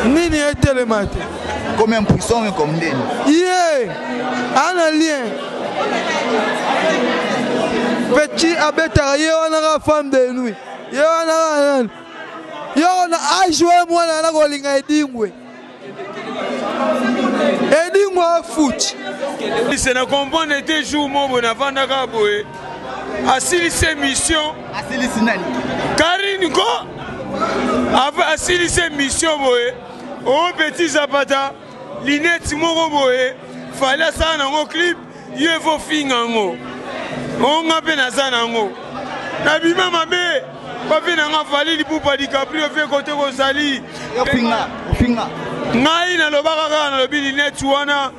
nini etelema te comme un puissant mais comme ndeni ye ana lien petit abetaka ye wana ka femme de nuit ye wana ka nani yo na ajwe mwana na kolinga edingwe Edingo afuti. Se na comprendre te jour mobo na vandaka boye. Asilisi émission. Asilisi nani? Karine ko asilisi émission boye. Oh petit Zapata, linette moko boye. Fallait asala nango clip. yo il faut finga yango o nga mpe naza na yango nabima mabe bafe na nga fali lipupa dicaprio fe kote kozali ngai nalobaka kaka nalobi lineti wana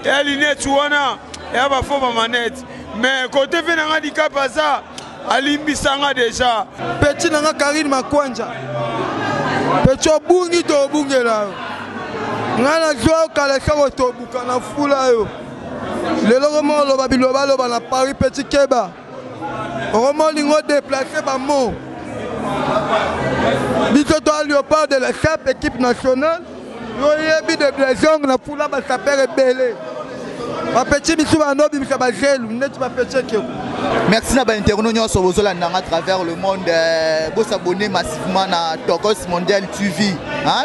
ya lineti wana ya bafo bamanete mais kote fe na nga dicap aza alimbisa nga deja peti na nga karine makwanja peti obungi to obungela yo ngai nazwa yo kala soko tobuka na fula yo lelo koma oloba biloba loba na paris petit keba okoma olingi odeplace bamo biso toa leopard de la chape équipe nationale yoyebi de blesong na fula basapere ebele bapeti bisu bando obimisa bazelu neti bapeti ekeko merci na bainterno nyonso bozolanda nga travers le monde euh, bosabone massivement na tokos mondial tv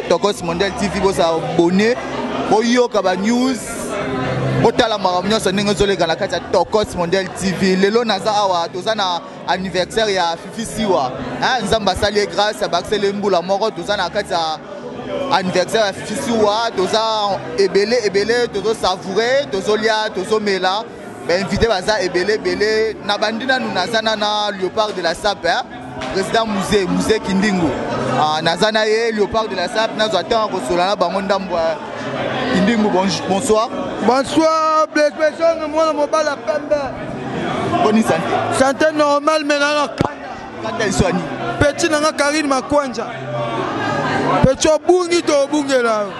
tokos mondial tv bosabone boyoka banews botala makambo nyonso ndenge ezoleka na kati ya tokos mondial tv lelo naza awa toza na anniversaire ya fifi siwa nzambe asali ye grâce abakiseli ye mbula moko toza na kati ya anniversaire ya fifi siwa toza ebele ebele tozosavoure tozolia tozomela ba invité baza ebele ebele na bandi nanu naza na na leopard de la sape hein? président musée musée kindingu ah, naza na ye leopard de la sape nazwa ntango ya kosola na bango ndambo ya kindingu bonsoir bonsoir blesbesonge mwana mobali ya pembe boni sante sante normal menana kanda liswani peti na nga karine makwanja peti obungi to obungela yo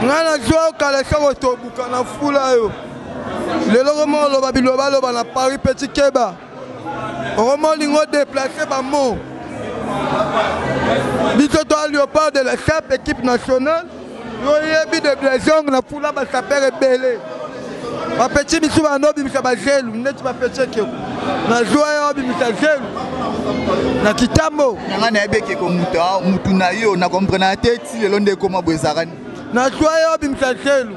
ngai nazwa yo kala esoko tobuka na fula yo lelo koma oloba bilobaloba na paris petit keba okoma olingi odeplace bamo biso toa leopard de la chape équipe nationale yoyebi de blesong na fula basapere ebele bapeti bisu banda obimisa bazelu neti bapeti ekeko nazwa yo obimisa zelu na kitambo nanga nayebi ekeko mutu na yo na komprenaka te ti lelo nde ekoma boye ezalaka nazwa yo obimisa zelu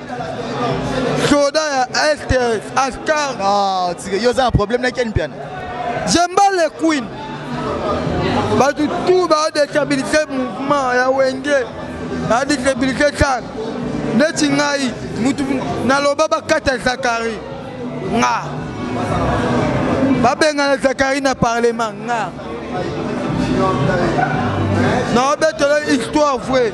soda ya est ascar ah, yo oza na problème na ken mpiana jemba le queen bato tu baodestabilise mouvement ya wenge baodestabilise sar neti ngai mutu naloba bakata zakari nga babengana zakari na parlement nga naobetela histoire vraie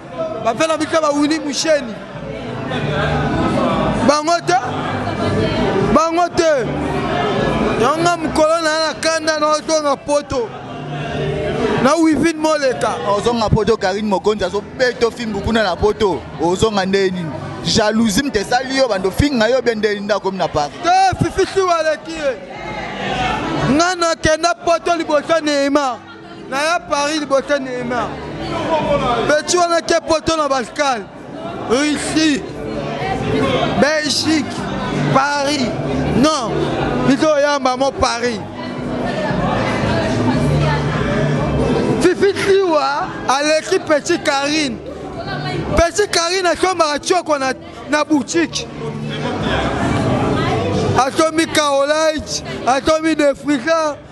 bapela bika bawini musheni bango te bango te yanga mokolo na ya na kanda na otonga poto na wivine moleka ozonga poto karine mokonzi azobeta ofimbu kuna na poto ozonga ndenge nini jalousie mte esali yo bando finga yo bie ndenge nini nde akomi na paris te fifisi waleki ye ngai nakenda poto liboso neymar naya paris liboso neymar beti wana ke poto na balkane russie belgique paris non biso oyamba mo paris fifi tiwa aleki peti karine peti karine asombaka tioko na, na boutique asomi kaolite asomi defrisa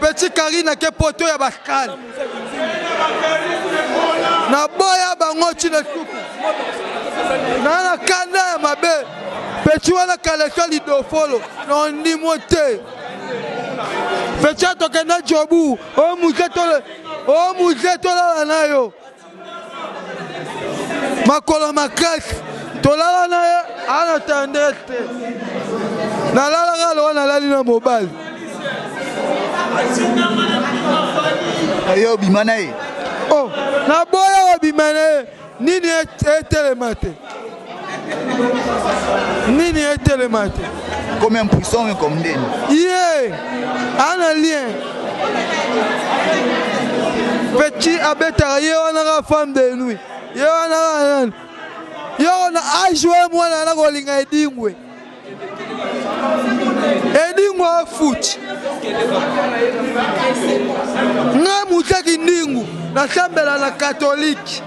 Petit Carine ake poto ya Bascal. Na boya bango chine suku. Na na kanda ya mabe. Petit wana kalesha lidofolo. Na ndimo te. Petit atokenda jobu. O muze tole. O muze tolala na yo. makolo makasi tolala na ye ana tendresse te nalalaka lowa nalali na mobali yo obima na ye oh, naboya kobima na ye nini etelema te nini etelema te comme un puissant oyo comme ndeni ye ana lien petit abetaka ye wana ka femme de nuit ye wana ka nani yo na ajwe mwana na kolinga edingwe Edingo afuti nga muta kindingu nasambela na katolike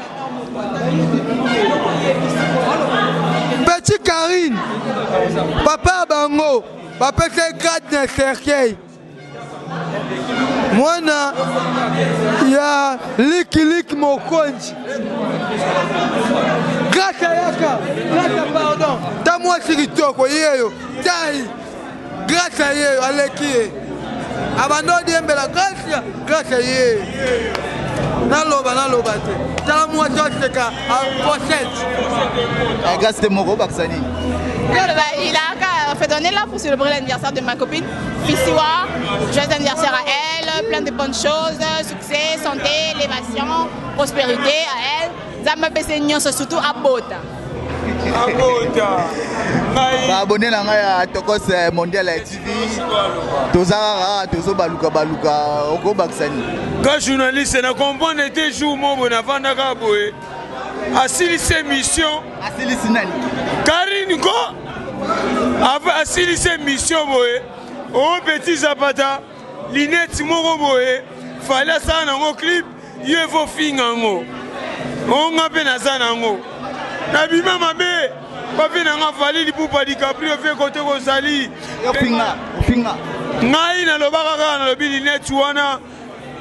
petit karine papa ya bango bapesa ye grade na cercueil mwana ya likiliki mokonzi grata yaka grata pardon ta mwasi kitoko yeyo tai grata yeyo aleki ye abanda odiembela gracia gracia ye naloba naloba te tala mwasi aseka pochete eh, gasi te moko obakisa nini fait donner là pour célébrer l'anniversaire de ma copine Fisiwa, joyeux anniversaire à elle, plein de bonnes choses, succès, santé, élévation, prospérité à elle. Zamba pese nyonso surtout à Bota. baabone na ngai ya tokos eh, mondial ya tv toza kaka tozobaluka baluka okobakisa nini ka journaliste na comprendre te jour mobo nafandaka boye asilisi emission asilisi nani karine ko asilisi emission boye o oh, petit zapata lineti moko boye fali asala nango clip yo efo finga yango onga mpe naza na yango nabima mabe papi na nga fali lipupa dicaprio mpe kote kozali ngai nalobaka kaka nalobi lineti wana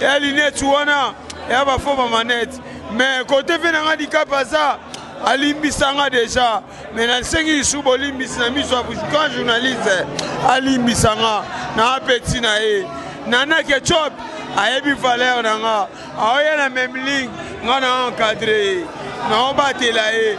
ya lineti wana ya bafo bamanete me kote mpe na nga likapa aza alimbisa nga deja me nasengi lisu bolimbisi na miso ya grand journaliste alimbisa nga na apeti na ye nana ketchup ayebi valeur na nga aoya na memling nga na encadre ye naobatela ye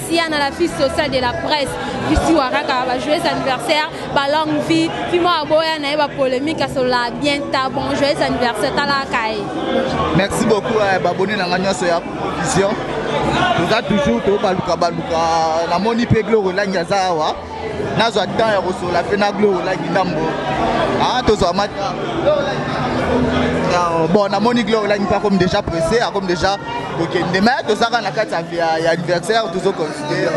Sia na la fille sociale de la presse bisiwa kaka ba joyeux anniversaire ba longue vie fimo aboya na ye ba polémique asola bien ta bon joyeux anniversaire tala kai merci beaucoup eh, ba boni na nga nyonso ya vision toza toujours tobaluka baluka namoni mpe glorelangi aza awa nazwa temps ya kosola mpe na glo olaki ndambo ah, tozwa mat euh, bon namoni glo olaki mpe akomi déjà pressé akomi déjà kokende me tozaka na kati ya anniversaire tozo considere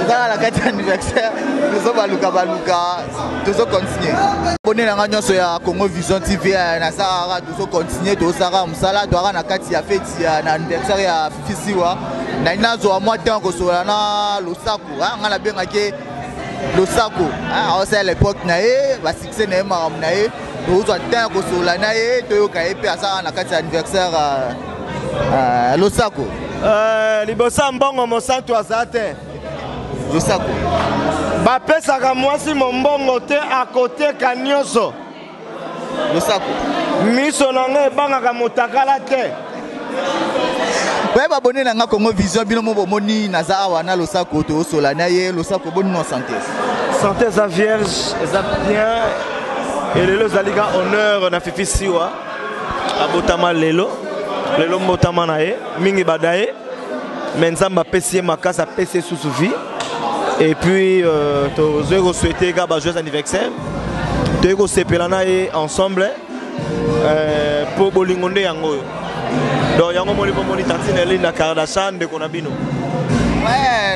tozaka na kati ya anniversaire tozobaluka baluka tozo continue bone na ngai nyonso ya congo vision tv eh, nasakaka tozo continue tozosaka mosala toyaka na kati ya feti na anniversaire ya fisiwa nai nazwa mwa ntango kosolola na losako ah, ngai nabengaki ye losako ah, aosala lepoke na ye basuccès na ye makambo na ye tozwa ntango kosolola na ye toyoka ye mpe asala na kati ya anniversaire ah, ah, losako eh, liboso ya mbongo mosantu aza te losako bapesaka mwasi mombongo te akoteka nyonso losako miso na ngai ebangaka motakala te oye babone na nga congo vision bino mo bomoni naza awa na losako toosola na ye losako boni no sante sante eza vierge eza bien e lelo ezali ka honneur na fifi siwa abotama lelo lelo mbotama na ye mingi bada ye mais nzambe apesi ye makasi apesi ye susu vie et puis euh, tozwi kosouhaite kaka bajoyeux anniversaire toyei kosepela na ye ensemble euh, mpo bolingo nde yango oyo donc yango moni mpo moni tantine elini na kardashan ndeko na bino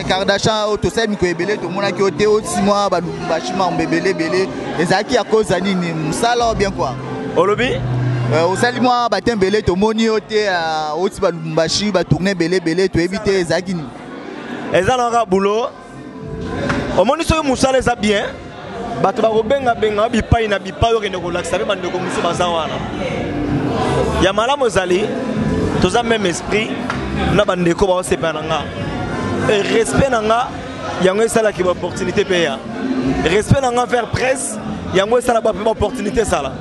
kardashan oyo tosali mikolo ebele tomonaki yo te osimwa balubumbashi mambo ebele ebele ezalaki ya koza nini mosala oyo bien kua olobi euh, osali mwa batembele tomoni yo te oti euh, balumbu Mbashi ba tourner belé belé to éviter ezaki ni. Eza na ka boulot. Omoni soki musala eza bien. Bato bakobenga benga bipai na bipai okende kolakisa mpe bandeko mosusu baza wana ya malamu ezali toza même esprit na bandeko baosepela na nga e respect na nga yango esalaki baopportunité mpe ya respect na nga vers presse yango esala bape baopportunité esala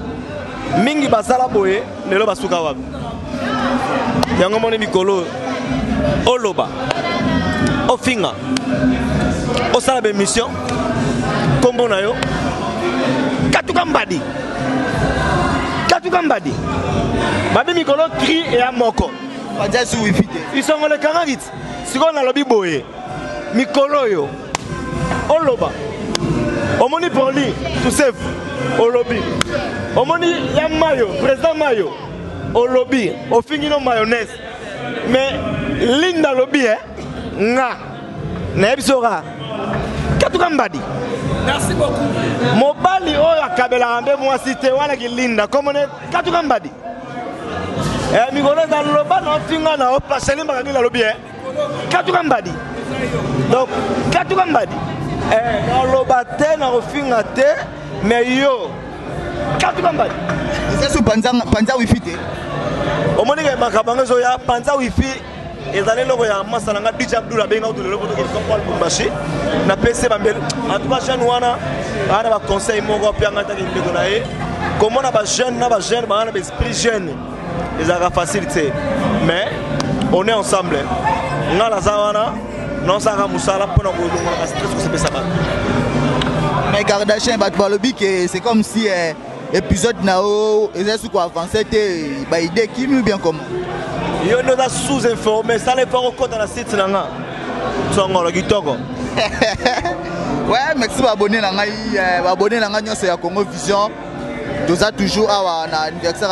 mingi basala boye lelo basuka wapi yango moni mikolo oloba ofinga osala bemission nkombo na yo katuka mbadi katuka mbadi babi mikolo cri eya moko isongolekangaki sikoyo nalobi boye mikolo oyo oloba omoni proli tusef olobi omoni ya mayo président mayo olobi ofingi no mayonnaise mais linda alobi e eh, nga nayebi soka katuka mbadi merci beaucoup mobali oyo akabelaka mpe mwasi te wana kilinda komone katuka mbadi eh mikolo eza loba na ofinga na opaseli mbaka nini alobi e katuka mbadi donc katuka mbadi eh, naloba te na kofinga te me yo katuka mbadi eza so panza wifi te omoni ke makambo yango ezoya panza wifi ezali eloko ya masa na ngai dj abdul abenga kutu lelo poto kosoko kwa lubumbashi napesi ye bambeli antuka jeune wana aa na baconseil moko ape yangai ataki ndeko na ye komona bajeune na bajeune banga na baesprit jeune ezalaka facile te mais on est ensemble ngai naza wana naosalaka mosala mpo na kolongolaka stress kosepesa bato mais kardachien bato balobi ke c'est comme si eh, Episode na yo eza suko avancer te ba idée kimi ou bien comment? Yo ndio za sous informé, sala effort okota na site na nga. Tsongolo kitoko. ouais, merci ba abonné na ngai, euh, ba abonné na ngai nyonso ya Congo Vision. Toza toujours awa na anniversaire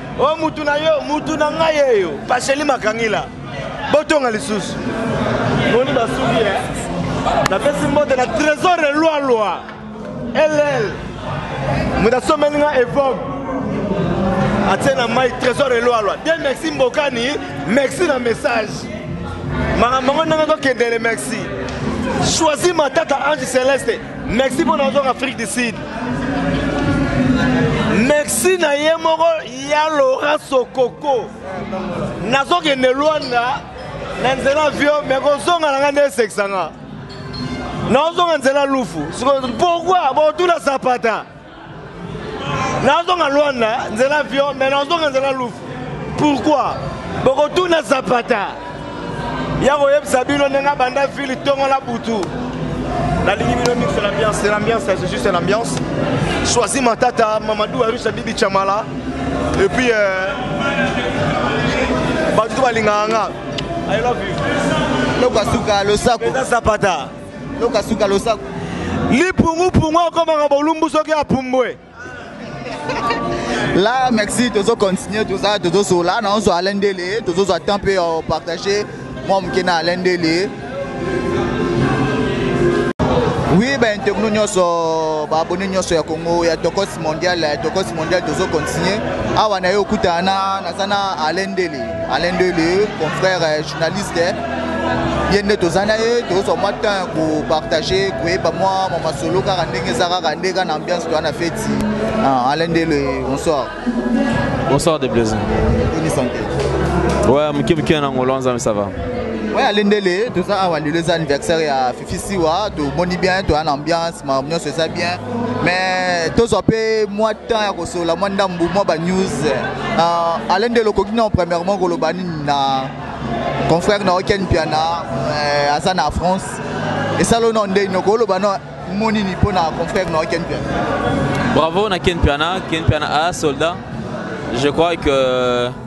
o oh, mutu na yo mutu na ngai yeyo paseli makangila botonga lisusu moni basuki ye eh? napesi mbote na trésor elwalwa ll moto asomeli nga evogue atie na mai trésor elwalwa de merci mbokani merci na message makambo yango ndenge tokendele merci choisi matata ange celeste Merci pour notre Afrique du Sud. Merci na ye moko ya Laurent Sokoko. Nazokende Luanda na nzela vio me kozonga na ngai nde esekisanga. Nazonga nzela lufu. Pourquoi? Botula zapata. nazonga luanda nzela avion mais nazonga nzela lufu pourquoi bokotuna zapata ya koyebisa bino ndenge abanda ville ntongo na butu nalingi bino mixo l'ambiance l'ambiance c'est juste une ambiance choisi matata mamadou arusha bibi chamala et puis euh, bato to balingaka nga i love you lokola suka losako eza zapata Loka suka losako. Lipungu pungu akomaka bolumbu soki apumbwe. Là, merci, tozo continuer tout ça, tozo sur là, non, sur Alain Délé, tozo sur temps peu euh, partager. Moi, je suis Alain Délé. Oui, ben, tout le monde, ba abonné nyoso ya Congo ya Tokos Mondial, ya Tokos Mondial, tozo continuer. Awa na yo kutana na sana Alain Délé. Alain Ndele, confrère euh, journaliste, ye nde toza na ye tozwa mwa temps ya kopartage koyeba mwa mwa masolo kaka ndenge eza kaka nde kaka na ambiance toya na feti ah, Alain Ndele, bonsoir. Bonsoir de Blaise. Bonne santé. Ouais, moke moke na ngolo nzambe ça va. Ouais, Alain Ndele, toza awa lelo eza anniversaire ya Fifi Siwa, tomoni bien, toya na ambiance, ma nyonso eza bien. mais tozwa mpe mwa temps ya kosolola mwa ndambu mwa banews uh, alain ndelo okoki nao premièrement koloba nini na confrère na oken mpiana uh, aza na france esalo nao ndei noko oloba nao mo nini mpo na confrère na oken mpiana bravo na ken mpiana ken mpiana a soldat je crois que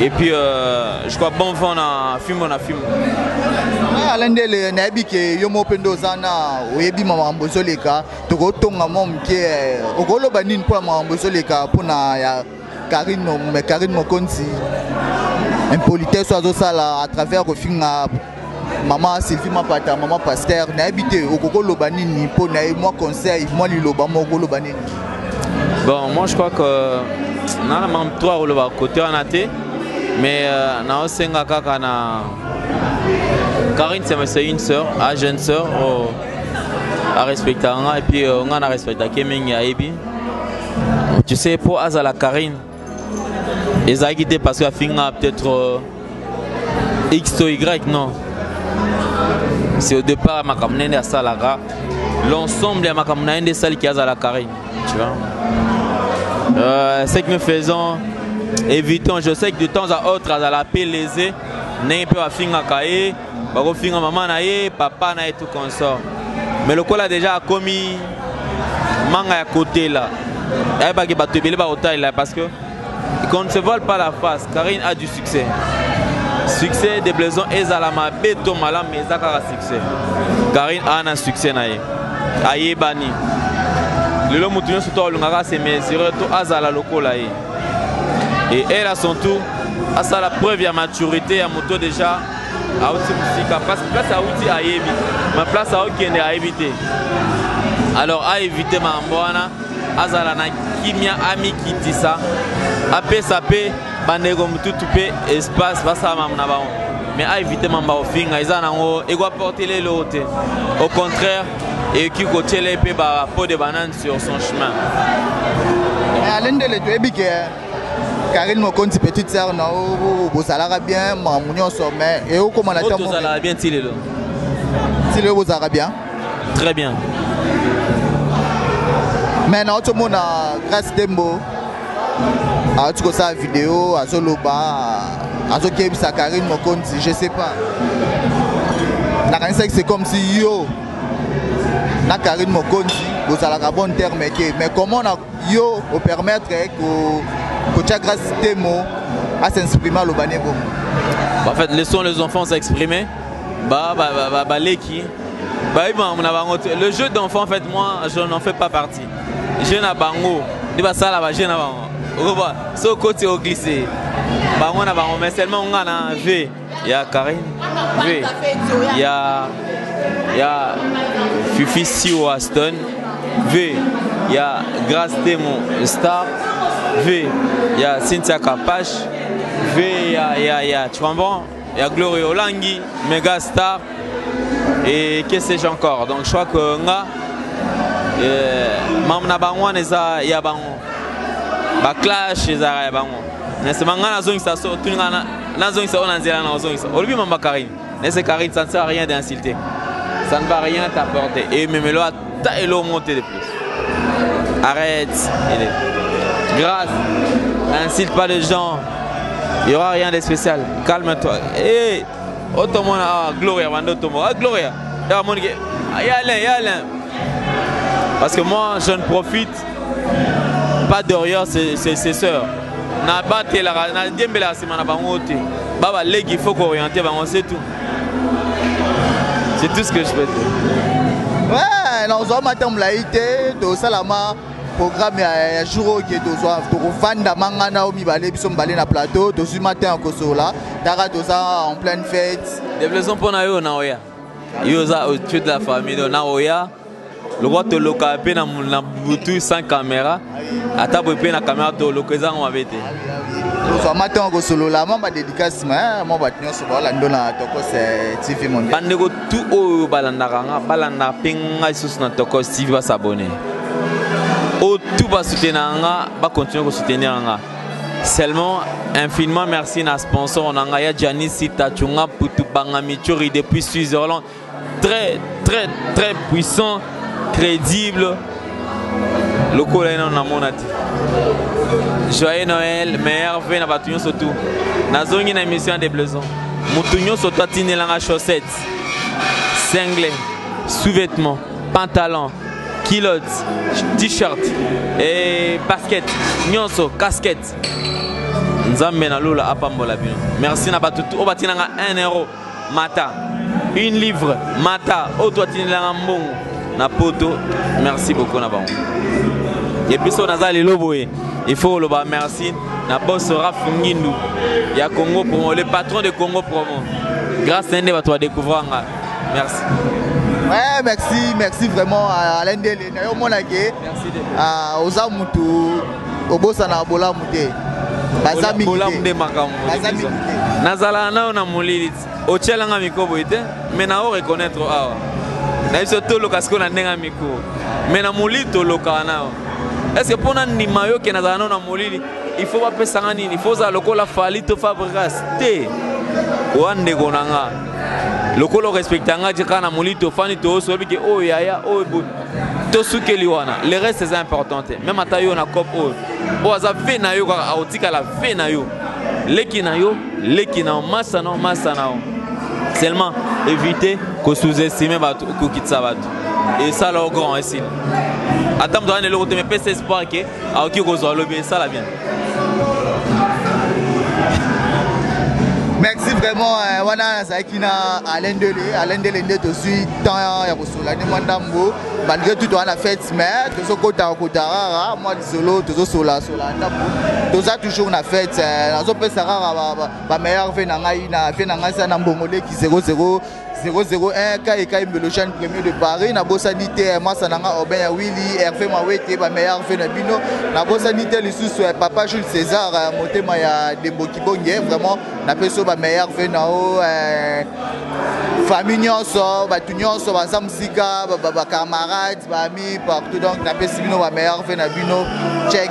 et puis euh, je crois bon vent na fimbo na fimbo eh, alain ndele nayebi ke yo moko mpe nde oza na oyebi makambo ezoleka tokotonga mwa moke eh, okoloba nini mpo ya makambo ezoleka mpo na ya karine mokonzi impolitesse oyo azosala à travers kofinga mama sylvie mapata mama paster nayebi te okoki oloba nini mpo na ye mwa conseil mwa liloba moko okoloba nini bon moi je crois que euh, na na mam trois koloba kote wana te mais euh, naosenga kaka na karine semese une sœur a jeune sœur oh, arespectaka nga epuis euh, nga na respectake mingi ayebi tu sais mpo azala karine ezalaki te parce que afinga peut-être euh, x to y non c'est au départ ya makambo nene asalaka l'ensemble ya makambo na ye nde esaliki azala carine tu vois euh, ce que nous faisons évitons je sais que de temps à autre azala pe lese ndenge mpe bafingaka ye bakofinga mama na ye papa na ye tout consort mais lokola deja akomi manga ya kotela ayebaki bato ebele bakotalela parce que qu'on ne se voile pas la face karine a du succès succès de blaison ezala mabe to malamu mais eza kaka succès karine aa na succès na ye ayebani lelo moto nyonso to alingaka ase mesure to azala lokola ye et elle à son tour asala preuve ya maturité ya moto déjà auti mosika parce place auti ayebi ma place aokende ayebi te alors aevite makambo wana azala na kimia amikitisa apesa mpe bandeko motutu mpe espace basala mamu na bango mais aevite mamba kofinga eza nango ekoaportele eloko te au contraire ekoki kotyele mpe bapo de banane sur son chemin alendele toyebi ke Karine Mokonzi petite sœur na yo bozalaka bien mamu nyonso mais eokoma na ntango tozalaka bien ti lelo ti lelo bozalaka bien très bien mais na otomona grace dembo awuti kosala video azoloba azokebisa karine mokonzi je sais pas nakanisaki c'est comme si yo na karine mokonzi bozalaka bon terme te mais comment na yo o permettre ko kotia grâce temo à s'exprimer aloba ne bongo bah, en fait laissons les enfants s'exprimer ba ba ba, ba, ba leki ba iba na bango le jeu d'enfant en fait moi je n'en fais pas partie je na bango nde basala ba jeu na bango okoba so koti o glisser bango na bango mais seulement nga na v ya Karine mpe ya ya Fifi Siwo Aston mpe ya Grace Temo Star mpe ya Cynthia Kapash mpe ya ya ya tu comprends ya Gloria Olangi Mega Star et que sais-je encore donc je crois que nga eh, mamu na bango wana eza ya bango baclash ezalaka ya bango mais c'est manga nazongisa so tuni nga nazongisa oyo na nzela na ozongisa olobi mama karine nese karine ça ne sert à rien d'insulter ça ne va rien t'apporter et memelo ata elo monte de plus arrête il est grâce n'insulte pas les gens il y aura rien de spécial calme toi hey, eh, otomona oh, ah, gloria bande otomona ah, gloria ya monike ah, ya alain ya alain parce que moi je ne profite pas derrière ses, ses, ses sœurs nabatelaka nadiembelaka nsima na bango te baba leki il faut kooriente bango c'est tout c'est tout ce que je peux dire ouais, nazwa mata molai te tosalama programme ya jour oyo ke tozwa tokofanda mangana oyo mibale biso mibale na plateau tozwi matin ya kosola taka toza en pleine fête devleson mpo na yo na oya yo oza tu de la famille na oya lokola toloka mpe na butu sans camera ata boye mpe na camera toloka eza yango mabe te fama ntango kosolola mwa badedikasi ma mwa bato nyonso baolando na tokos eh, tv mondial bandeko tu oyo balandaka nga balandaka mpe ngai lisusu na tokos tv basabone oyo tu basutenaka nga bakontinue kosoutenir nga seulement infiniment merci na sponsor na ngai ya janis sitachunga putu bangamichori depuis switzerland très très très puissant crédible lokola ye nano namona te joyeux noël meilleur ve na bato nyonso tu nazongi na émission ya deblaison moto nyonso to atindelanga chaussette single sous-vêtement pantalon kilote t-shirt e basket nyonso casquette nzambe na lola apambola bino merci na bato oyo batinanga 1 euro mata une livre mata oyo to atindelanga mbongo na poto merci beaucoup na bango episo naza lelo boye il faut koloba merci na boss raf ngindu ya congo promo le patron de congo promo grâce na nde bato badecouvrir nga merci Ouais, merci, merci vraiment à Alain Dele. Merci. Oza mutu obosanaka bolamu te baza mingi bolamu nde makambo baza mingi te nazalaka nayo na molili otyelanga mikro boye te me na o reconnaître awa na biso toloka sikoyo na ndenge ya mikro me na molili tolokaka nayo estce mpo na ndima yo ke nazalaka nayo na molili il faut bapesanga nini il faut ozala lokola fali to fabrigas te oya ndeko na nga lokola orespecta nga je kaka na molili tofandi tooso oyebi ke oyo oh, yaya oyo oh, tosukeli wana le reste eza important te meme ata yo na cop oyo oyo aza ve na yo kaka akotikala ve na yo leki na yo leki na yo masa na yo masa na yo seulement éviter kosous-estime bato kokitisa bato esala yo grand esili ata moto ana eloko te mepesa espoir ke akoki kozwa lobi esala bien merci vraiment eh, wana nazalaki na alendele alendele nde tozwi temps ya solani mwa ndambo malgré tout toza na fete mais tozokotaka kota rara mwa lisolo tozosolasola ndambo toza toujours na fete eh, nazopesa rara bameilleur ve na ngai na ve na ngai sa na mbongoleki 00 001 kai kai mbelojane premier de paris nabosani te eh, mwasa na nga aubin ya willi herve mawete bameilleur ve na bino nabosani te lisusu eh, papa jules césar motema ya dembo kibonge vraiment napesi yo bameilleur ve na yo eh, famille nyonso bato nyonso baza mosika bacamarade baami partout donc napesi bino bameilleur ve na bino check